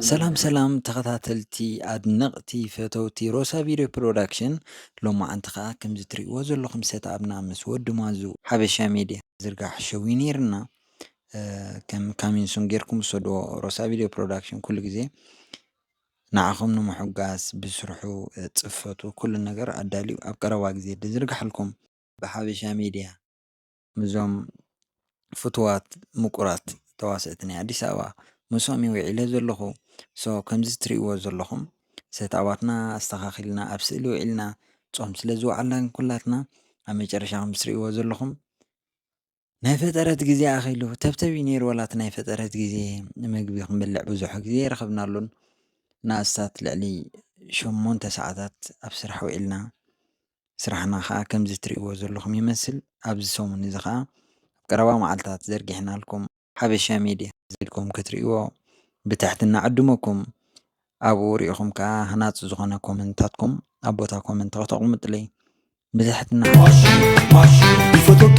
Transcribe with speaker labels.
Speaker 1: ሰላም ሰላም ተኸታተልቲ ኣድነቕቲ ፈተውቲ ሮሳ ቪድዮ ፕሮዳክሽን ሎማዓንቲ ከዓ ከምዚ ትሪእዎ ዘለኹም ሰትኣብና ምስ ወዲ ማዙ ሓበሻ ሚድያ ዝርጋሕ ሸው ነይርና ከም ካሚንሱን ጌርኩም ሰድዎ ሮሳ ቪድዮ ፕሮዳክሽን ኩሉ ግዜ ንዓኹም ንምሕጋስ ብስርሑ ፅፈቱ ኩሉ ነገር ኣዳልዩ ኣብ ቀረባ ግዜ ዝርጋሓልኩም ብሓበሻ ሚድያ እዞም ፍቱዋት ምቁራት ተዋሰእቲ ናይ ኣዲስ ኣበባ ምስኦም እየ ውዒለ ዘለኹ so ከምዚ ትሪእዎ ዘለኹም ሰትኣባትና ኣስተኻኺልና ኣብ ስእሊ ውዒልና ጾም ስለ ዝወዓልና ግን ኩላትና ኣብ መጨረሻ ከም ትሪእዎ ዘለኹም ናይ ፈጠረት ግዜ ኣኺሉ ተብተብ እዩ ነይሩ ዋላ እቲ ናይ ፈጠረት ግዜ መግቢ ክንበልዕ ብዙሕ ግዜ ኣይረኸብናሉን ንኣስታት ልዕሊ ሸሞንተ ሰዓታት ኣብ ስራሕ ውዒልና ስራሕና ከኣ ከምዚ ትርእይዎ ዘለኹም ይመስል። ኣብዚ ሰሙን እዚ ከኣ ኣብ ቀረባ መዓልታት ዘርጊሕናልኩም። ሓበሻ ሜድያ ዘልኩም ክትርእይዎ ብትሕትና እዕድመኩም። ኣብኡ ሪኢኹም ከኣ ሃናጺ ዝኾነ ኮመንታትኩም ኣብ ቦታ ኮመንት ከተቕምጡለይ ብትሕትና
Speaker 2: ይፈትወኪ